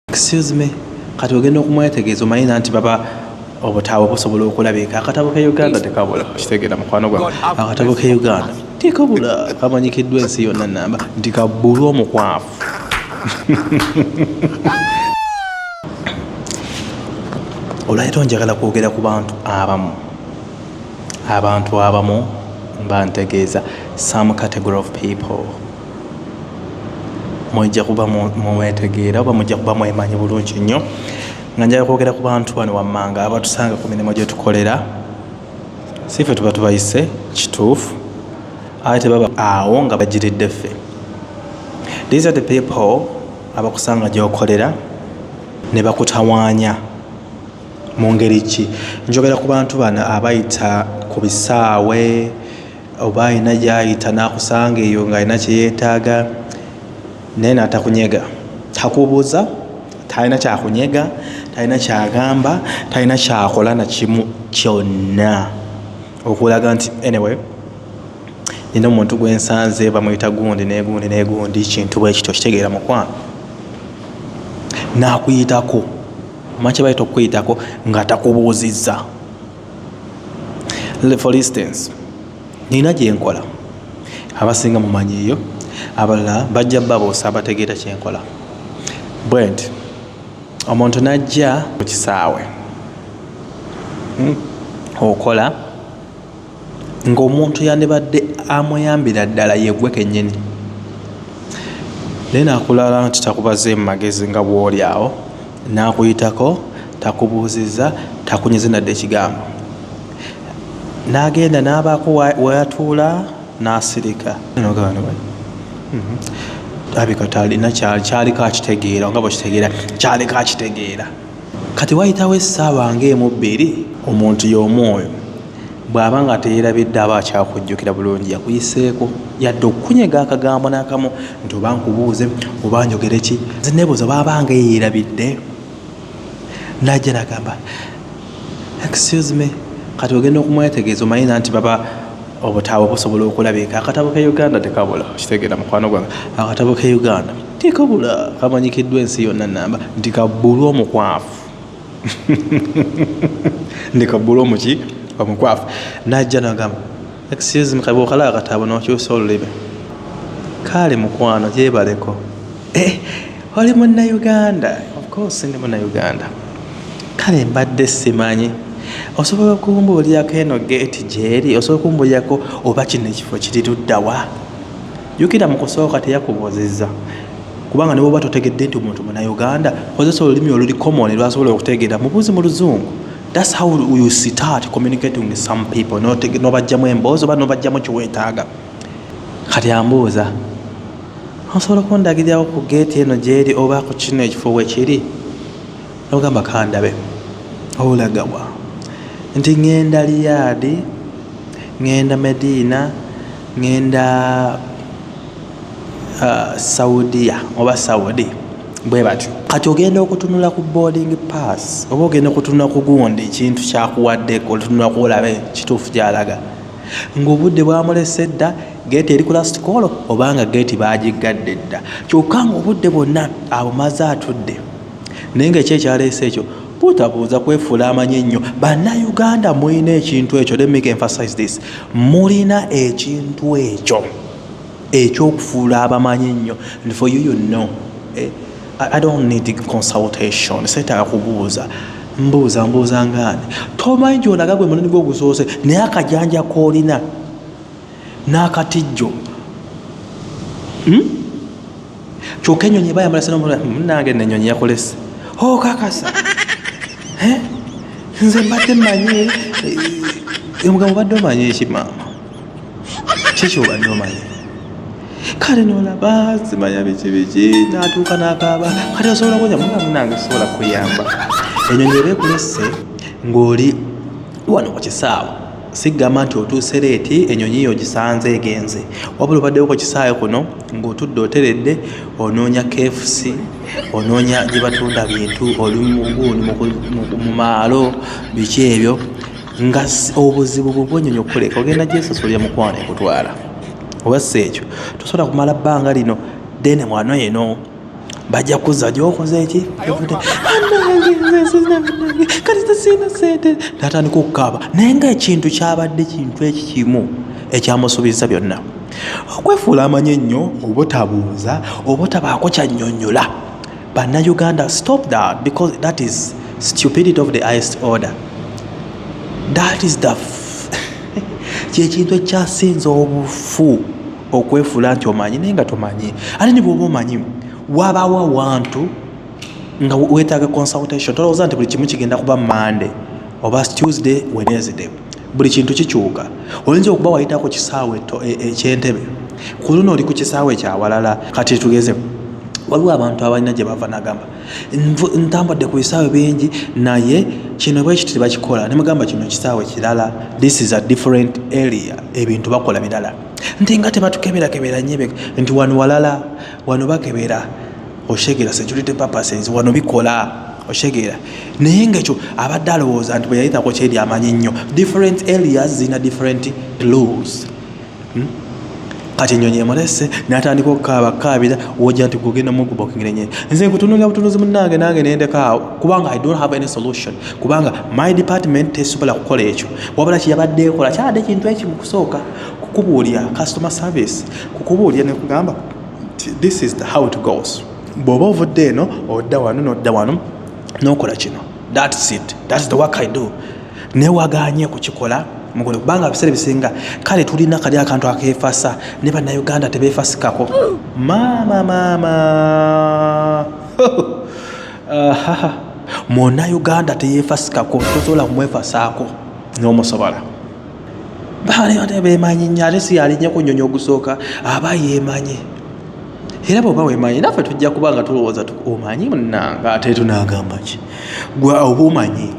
excuse me kati ogenda okumwetegeeza omanyi nanti baba obutabo busobola okulabika akatabo ke uganda tekabula kitegeera mukwano gwa akatabo ke uganda tekabula kamanyikiddwa ensi yonna namba nti kabbulwa omukwafu olwaliro njagala kwogera ku bantu abamu abantu abamu mba ntegeeza some category of people mujja kuba mwetegeera oba mujja kuba mwemanyi bulungi nnyo nga njala kwogera ku bantu bano wammanga abatusanga ku mirimu gye tukolera si ffe tuba tubayise kituufu ate tebaba awo nga bagiridde ffe these are the people abakusanga gyokolera ne bakutawaanya mu ngeri ki njogera ku bantu bano abayita ku bisaawe Oba alina gy'ayita n'akusanga eyo ng'alina kye yeetaaga naye n'atakunyega. Takubuuza, talina ky'akunyega, talina ky'agamba, talina ky'akola na kimu kyonna okulaga nti anyway nina omuntu gwe nsanze bamuyita gundi n'egundi n'egundi kintu bwe kityo kitegeera mukwano n'akuyitako omanyi kye bayita okukuyitako nga takubuuzizza. for instance nina gyenkola abasinga mumanyiyo abalala bajja baboosa abategeera kyenkola bwenti omuntu najja mu kisaawe hmm, okola ngaomuntu yandibadde amuyambira ddala yegwe kenyini naye nakulala nti takubaze mu magezi nga bwoli awo N'akuyitako, takubuuzizza, takunyeze nadde ekigambo. N'agenda n'abaako w'atuula n'asirika. N'ogamba nti wai, alabika talina ky'aliko akitegeera, nga bw'okitegeera, ky'aliko akitegeera. Kati wayitawo essaawa ng'emu bbiri, omuntu y'omu oyo. Bw'aba nga teyeerabidde aba akyakujjukira bulungi yakuyiseeko yadde okukunyega akagambo n'akamu nti oba nkubuuze oba njogere ki. Nze neebuuza oba aba nga eyeerabidde n'ajja n'agamba excuse me kati ogenda okumwetegeeza omanyi nanti baba obutabo busobola okulabika akatabo ke uganda tekabula kitegeera mukwano gwange akatabo ke uganda tekabula kamanyikiddwa ensi yonna namba nti kabbulwa omukwafu ndeka bulomu ki omukwafu najja nagamba excuse me kabwokala akataabo nokyusa olulimi kaale mukwano gyebaleko eh, oli munauganda ofcourse ndi munauganda kale mbadde simanyi osobola okumbuulyako eno geeti gyeri osobola okumbuulyako oba kino ekifo kiriruddawa Jukira mu kusooka teyakubuuzizza kubanga ne bwoba totegedde nti omuntu munauganda kozesa olulimi oluli common lwasobola okutegeera mubuuzi mu luzungu thats how you start communicating with some people nobajjamu emboozi oba nobajjamu kiwetaaga kati ambuuza osobola okundagirirawo ku geeti eno gyeri oba ku kino ekifo wekiri nogamba kandabe olagawa nti ŋenda liyaadi ŋenda mediina Ngenda saudia oba saudi bwe batyo kati ogenda okutunula ku boarding pass oba ogenda okutunula ku gundi ekintu kyakuwadde olutunula kuolabe kituufu gyalaga ng'obudde bwamulese dda geeti eri ku lasitikoolo oba nga geeti baagiggadde dda kyokka ng'obudde bwonna abumaze atudde naye ngaekyo ekyaleese ekyo butabuuza kwefuula amanyi ennyo bannayuganda mulina ekintu ekyo lemmika emphasize this mulina ekintu ekyo ekyokufuula abamanyi ennyo and for you you know eh, i don't need consultation seetaaga kubuuza mbuuza mbuuza ngaani tomanyi gyonaga gwe mulini gwogusoose naye akajanja koolina n'akatijjo hmm? kyoka enyonyi eba yambala sinamunange hmm, nenyonyi yakolese okakasa oh, nze mbadde manyi eh, eh, omugambo badde omanyi ekimaama kiki obadde omanyi kale nolaba simanya biki biki natuuka nakaaba kati osobola kunya muga munange sobola kuyamba enyonyi eba ekulese ng'oli wano ku kisaawe sigamba nti otuuse leeti enyonyi yo ogisanze egenze wabula obaddewo ku kisaawe kuno ng'otudde oteredde onoonya kfc onoonya gye batunda bintu oli muguuni mu maalo biki ebyo nga obuzibu bwebwenyonyi okukuleka ogenda gyesosolya mukwano ekutwala oba si ekyo tosobola kumala bbanga lino ddene mwano eno bajja kuzza gyokoze ki natandika okukaaba naye nga ekintu kyabadde kintu eki kimu ekyamusuubiza byonna okwefuula amanyi ennyo obutabuuza obutabaako kyannyonnyola bannayuganda stop that because that is stupidity of the highest order that is the kyekintu ekyasinza obufu okwefuula nti omanyi naye nga tomanyi ate ne bwoba omanyi wabawo awantu nga wetaaga consultation tolowooza nti buli kimu kigenda kuba mande oba tuesday wednesday buli kintu kikyuka oyinza okuba wayitako kisaawe ekyentebe e, e, ku luno oli ku kisaawe kyawalala kati tugeze waliwo abantu abalina gye bava nagamba ntambadde ku bisaawe bingi naye kino bwekiti tebakikola nemugamba kino kisaawe kirala this is a different area ebintu bakola birala nti nga tebatukeberakebera nyebe nti wano walala wano bakebera oshegera security purposes wano bikola oshegera naye ngaekyo abadde alowooza nti bweyayitako kyeri amanyi nnyo different areas zirina different clues hmm? kati enyonyi emulese natandika okukaaba kukaabira woja nti kugenda mukubokingirenye nze nkutunulira butunuzi munange nange nendekaawo kubanga i don't have any solution kubanga my department tesobola kukola ekyo wabula kyeyabadde ekola kyabadde kintu ekimu kusooka kukubuulira customer service kukubuulira nekugamba this is the how it goes bw'oba ovudde eno odda wano n'odda wano n'okola kino thats it thats the work i do naye waganye kukikola mugole kubanga ebiseera ebisinga kale tulina kali akantu akeefasa ne bannayuganda tebeefasikako maama maama munayuganda teyeefasikako tosobola kumwefasaako n'omusobola baali bemanyi nnyo ate si yalinye ku nnyonyi ogusooka aba yemanyi era bwoba wemanyi naffe tujja kuba nga tulowooza omanyi munanga ate tunagamba ki gwe oba omanyi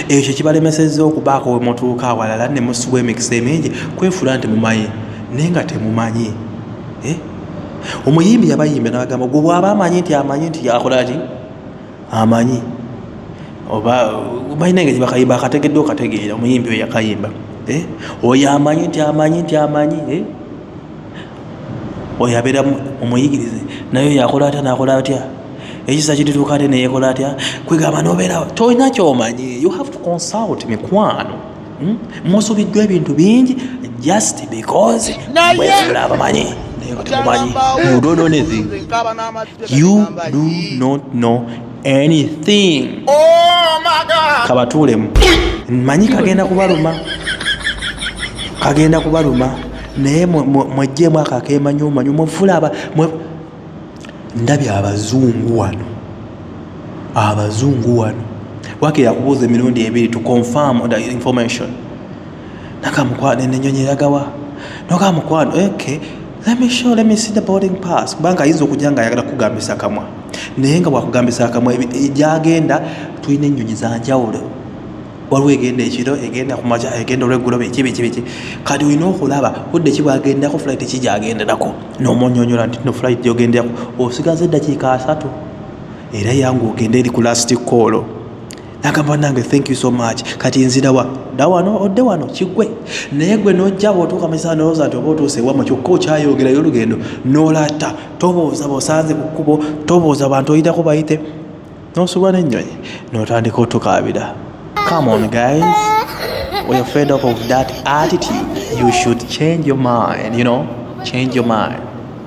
ekyo kibalemesezza okubaako wemutuuka awalala ne musubwa emikisa emingi kwefula nti mumanyi naye nga temumanyi eh? omuyimbi yabayimbi nabagamba gwe bwaba amanyi nti amanyi nti akolaki amanyi oba balina engeri bakayimba akategedde okategeera omuyimbi oyo yakayimba eh? oyo amanyi nti amanyi nti amanyi eh? oyo abeera omuyigirize naye oyo akola atya nakola atya ekisa kirituuka ate neyekola atya kwegamba nobeera tolina kyomanyi you have to consult mikwano Hmm? musubiddwa ebintu bingi just because mwefula abamanyi naye nga temumanyi you don't know anything you do not know anything oh kabatuulemu manyi kagenda kubaluma kagenda kubaluma naye mwejjeemu akakemanyi omanyi mwefula ndabye abazungu wano abazungu wano wake yakubuuza emirundi ebiri to confirm the information nakamukwano enenyonyi eragawa noka mukwano ok let me show let me see the boarding pass kubanga ayinza okujja nga ayagala kugambisa akamwa naye nga bwakugambisa akamwa gyagenda tulina ennyonyi zanjawulo waliwo egenda ekiro egenda ku makya egenda olweggulo biki biki biki kati olina okulaba budde ki bwagendako flight ki gyagenderako n'omunyonyola nti no flight gyogenderako osigaza eddakiika asatu era yangu ogende eri ku lastic koolo nagamba nange thank you so much kati nzirawa da wano odde wano kigwe naye gwe nojja bwotuuka mukisaa nolowooza nti oba otuuse wamwe kyokka okyayongerayo olugendo nolatta tobooza bosanze ku kkubo tobooza bantu oyitako bayite nosubwa n'ennyonyi n'otandika otukaabira come on guys we are fed up of that attitude you should change your mind you know change your mind